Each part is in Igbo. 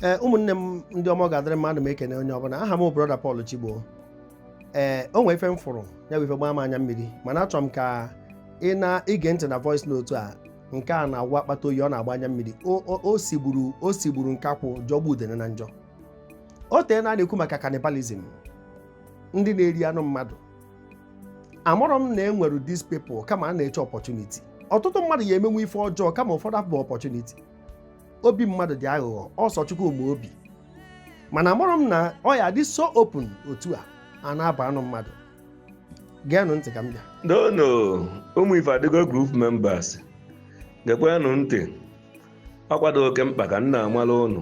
ee eh, ụmụnne m ndị ọma ga-adịrị mma ana m ekene onye ọbụla aha m brọda Paul Chigbo ee eh, o nwee ife m fụrụ ya bụ ife gbaa m anya mmiri mana achọrọ m ka unu gee ntị na voice note a nke a na-awụ akpata oyi ọ na-agba anya mmiri o sigburu o sigburu nkakwụ jọgbu udene na njọ o teena a na-ekwu maka cannibalism ndị na-eri anụ mmadụ amụrụ m na e nwere these people kama a na-eche opportunity ọtụtụ mmadụ ya-emenwe ife ọjọọ kama ụfọdụ abụ opportunity obi mmadụ dị aghụghọ ọ sọ Chukwu ma obi mana amụrọ m na ọ ya-adị so open otu a a na-abọ anụ mmadụ geenụ ntị ka m bịa donu ụmụ Ifeadịgo group members gekwenụ ntị ọkwa dụ oke mkpa ka m na-amara ụnụ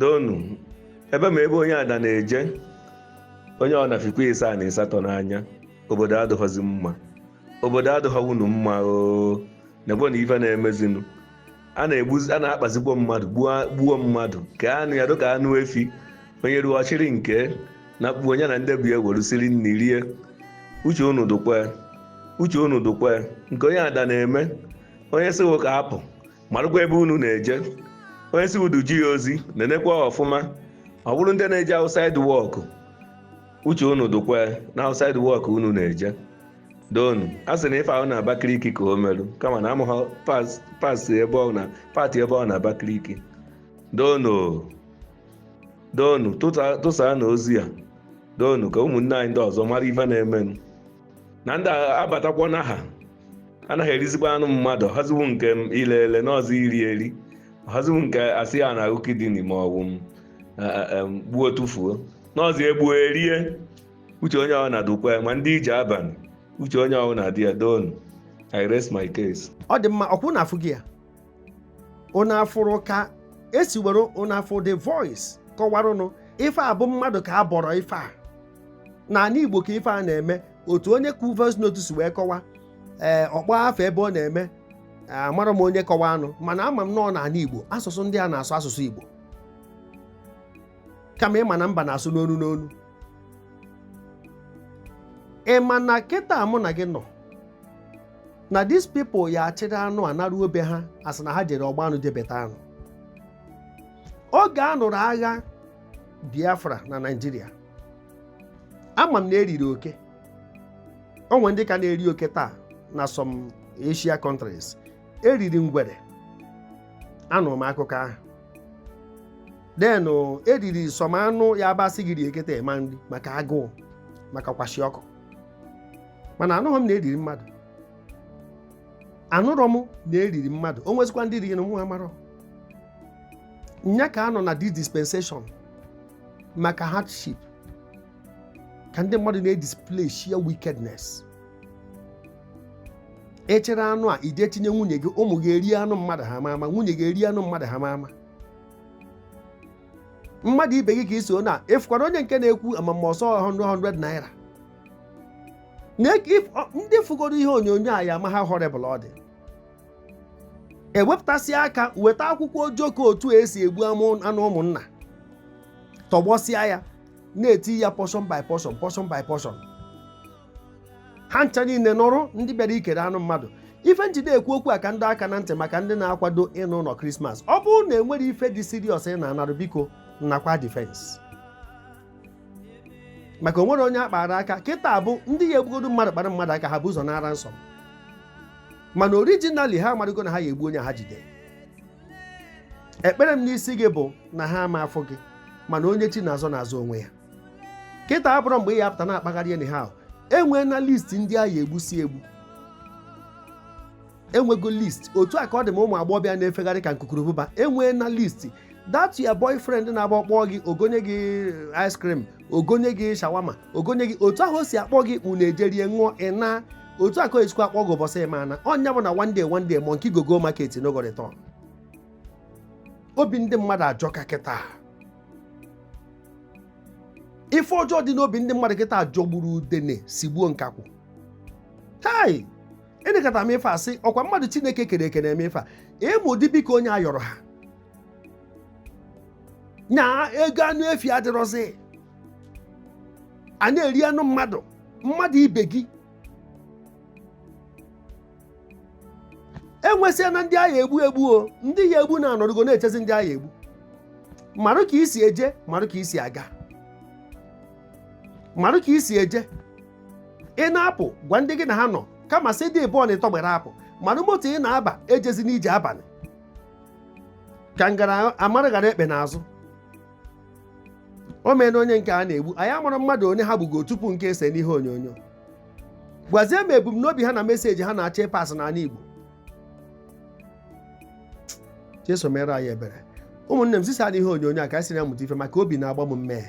donu ebe ma ebe onye ada na-eje onye ọna fikwa ịsaa na ịsatọ n'anya obodo adịghọzi mma obodo adịghọwunu mma oo nekwe na ife na-emezinụ a na-egbuzi a na-akpazikwa mmadụ gbuo gbuo mmadụ kee anụ ya dịka anụ efi onye ruo ọ chịrị nke nakpuo onye na ndị be ya ewerụ siri nri rie uche unu dụkwa uche unu dụkwa nke onye ada na-eme onye sị ghụ ka a pụ marụkwa ebe unu na-eje onye sị ghụ duje ya ozi nenekwa ọfụma ọ bụrụ ndị na-eje outside work uche unu dụkwa na outside work unu na-eje donu a sị na ife ahụ na Abakaliki ka o merụ kama na amụghọ part ebe ọ na part ebe ọ na Abakaliki donu donu tụsaanụ ozi a donu ka ụmụnne anyị ndị ọzọ mara ife na-emenụ na ndị a batakwa na ha ana ha erizikwa anụ mmadụ haziwu nke ile ele na ọ zị iri eri haziwu nke a sị ya na ọ kidney ma ọ wụ gbuo tụfuo na ọ zị e gbuo e rie uche onye ọna dụkwa ya ma ndị ije abalị uche onye ọna dị ya doonu i rest my case ọ dị mma ọkwa ụnụ afụgo ya ụnụ afụrụ ka e si were ụnụ anụrụ the voice kọwarụnụ ife a bụ mmadụ ka a bọrọ ife a n'ala Igbo ka ife a na-eme otu onye kwu voice note si wee kọwa ee eh, ọ kpọ afa ebe ọ na-eme amarọ m onye kọwanụ mana ama m na ọ n'ala Igbo asụsụ ndị a na-asụ asụsụ Igbo kama ị ma na mba na-asụ n'onu n'onu ị ma na kịta mụ na gị nọ na these people ya-achịrị anụ a naruo be ha asị na ha jere ọgba anụ jebeta anụ oge a nụrụ agha Biafra na Naịjirịa ama m na e riri oke o nwe ndị ka na-eri oke taa na some Asia countries e riri ngwere anụrụ m akụkọ ahụ then eriri some anụ ya-abụ asị gị rie kịta ị ma eri maka agụụ maka kwashiorkor mana anụghị m na eriri mmadụ anụrọ m na eriri mmadụ o nwezikwa ndị riri na nwa amarọ nya ka a nọ na this dispensation maka hardship ka ndị mmadụ na-edisplay sheer wickedness echere anụ a ije tinye nwunye gị ụmụ gị erie anụ mmadụ ha ma ama nwunye gị erie anụ mmadụ ha ma ama mmadụ ibe gị ka i so na ịfụkwara onye nke na-ekwu amama ọsọ 100 naira na if- ọ- ndị fụgoro ihe onyonyo a ya ama how horrible ọ dị ewepụtasị aka weta akwụkwọ ojoko otu esi egbu amụ- anụ ụmụnna tọgbọsịa ya na-eti ya portion by portion portion by portion ha ncha niile nọrụ ndị bịara ikere anụ mmadụ ife m jide ekwu okwu a ka m dọ aka na ntị maka ndị na-akwado ịna ụlọ krismas ọ bụrụ na enwere ife dị serious ị na-anarụ biko nakwa defense maka onwere onye a kpara aka kịta abụ ndị ya egbugodo mmadụ kpara mmadụ aka ha bu ụzọ ana ransom mana originally ha amarịgo na ha ya egbu onye ha jide ekpere m n'isi gị bụ na ha ama afụ gị mana onye chi na-azọ na-azọ onwe ya kịta abụrọ mgbe ị ya apụta na-akpagharị anyhow enwee na list ndị a ya egbusi egbu enwego list otu a ka ọ dị ma ụmụ agbọghọbịa na-efegharị ka nkukurubụba enwee na list that your boyfriend na-agba ọkpọ gị ogonye gị ice cream ogonye gị shawarma ogonye gị otu ahụ o si akpọ gị unu ejerie ṅụọ ị naa otu a ka o esikwa akpọ gị ụbọchị ị ma ana ọ nya bụ na one day one day monkey go go market no go return obi ndị mmadụ ajọka kịta ife ọjọọ dị n'obi ndị mmadụ kịta jọgburu udene sigbuo nkakwụ chai enekata m ife asị ọkwa mmadụ chineke kere eke na-eme ife a ịmụ ụdị biko onye ayọrọ ha na ego anụ efi adịrọzi a na-eri anụ mmadụ mmadụ ibe gị enwesịa na ndị a ya egbu egbu o ndị ya egbu na-anọrụgo na-echezi ndị a ya egbu marụ ka i si eje marụ ka i si aga marụ ka i si eje ị na-apụ gwa ndị gị na ha nọ kama sị dị bọọl ịtọ gbere apụ marụ moto ị na-aba ejezina ije abalị ka m gara amara ghara ekpe n'azụ o mee na onye nke a na-egbu anyị amarọ mmadụ one ha gbugo tupu nke ese n'ihe onyonyo gwazie m ebumnobi ha na message ha na-achọ ịpass n'ala Igbo Jesu meere anyị ebere ụmụnne m zisaanụ ihe onyonyo a ka anyị si na-amụta ife maka obi na-agba m mmee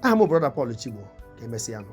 aha m Brother Paul Chigbo ka emesịa nụ